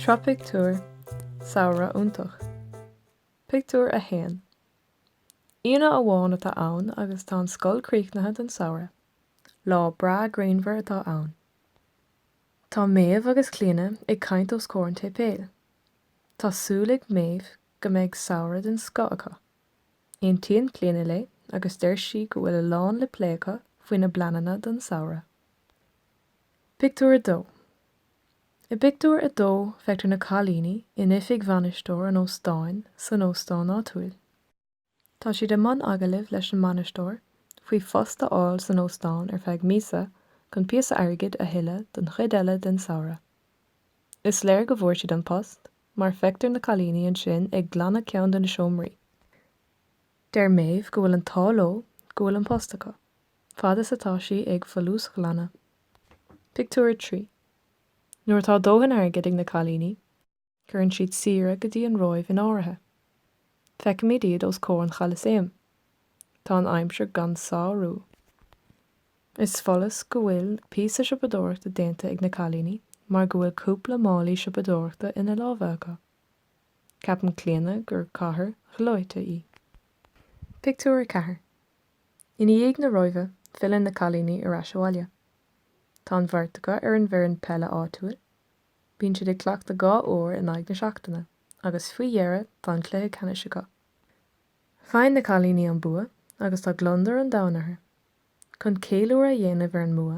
Sraith pictiúr, Samhradh iontach. Pictiúr 1 Aoine amháin atá ann agus tá an scoil críochnaithe don samhradh. Lá breá grianmhar atá ann. Tá Méabh agus Clíona ag caint os comhair an tséipéil. Tá súil ag Méabh go mbeidh samhradh den scoth acu. Aontaíonn Clíona léi agus deir sí go bhfuil a lán le plé acu faoina bpleananna don samhradh. Pictiúr 2 I bpictiúr a dó feictear na cailíní in oifig bhainisteoir an óstáin san óstán áitiúil. Tá siad i mbun agallaimh leis an mbainisteoir faoi phost a fháil san óstán ar feadh míosa chun píosa airgid a thuilleadh don chuid eile den samhradh. Is léir go bhfuair siad an post mar feictear na cailíní ansin ag glanadh ceann de na seomraí. Deir Méabh go bhfuil an t-ádh leo go bhfuil an post acu, fad is atá sí ag folúsghlanadh. Pictiúr 3 Nuair atá dóthain airgid ag na cailíní, cuireann siad saoire go dtí an Róimh in áirithe. Feicimid iad os comhair an Cholasaeim. Tá an aimsir gan sárú. Is follas go bhfuil píosa siopadóireachta déanta ag na cailíní mar go bhfuil cúpla málaí siopadóireachta ina lámha acu. Ceapann Clíona gur cathair ghleoite í. Pictiúr 4 I ndiaidh na Róimhe filleann na cailíní ar ais abhaile. Tá an bheirt acu ar an bhfoireann peile áitiúil. Bíonn siad ag cleachtadh dhá uair in aghaidh na seachtaine agus faoi dheireadh tá an cluiche ceannais acu. Faigheann na cailíní an bua agus tá gliondar an domhain orthu. Chun ceiliúradh a dhéanamh ar an mbua,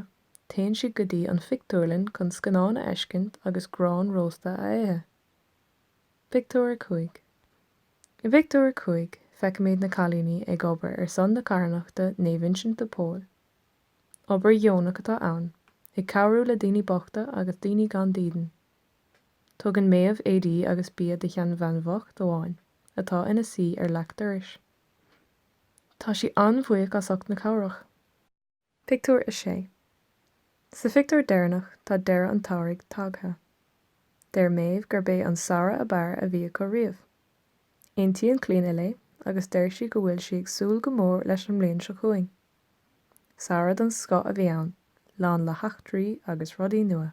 téann siad go dtí an phictiúrlann chun scannán a fheiscint agus grán rósta a ithe. Pictiúr 5 I bpictiúr a cúig, feicimid na cailíní ag obair ar son na carthanachta Naomh Uinseann de Pól. Obair dheonach atá ann, ag cabhrú le daoine bochta agus daoine gan dídean. Tugann Méabh éadaí agus bia do sheanbhean bhocht amháin atá ina suí ar leac dorais. Tá sí an-bhuíoch as ucht na cabhrach. Pictiúr 6 Sa phictiúr deireanach tá deireadh an tsamhraidh tagtha. Deir Méabh gurb é an samhradh ab fhearr a bhí acu riamh. Aontaíonn Clíona léi agus deir sí go bhfuil sí ag súil go mór leis an mbliain seo chugainn. Samhradh den scoth a bhí ann, lán le heachtraí agus rudaí nua.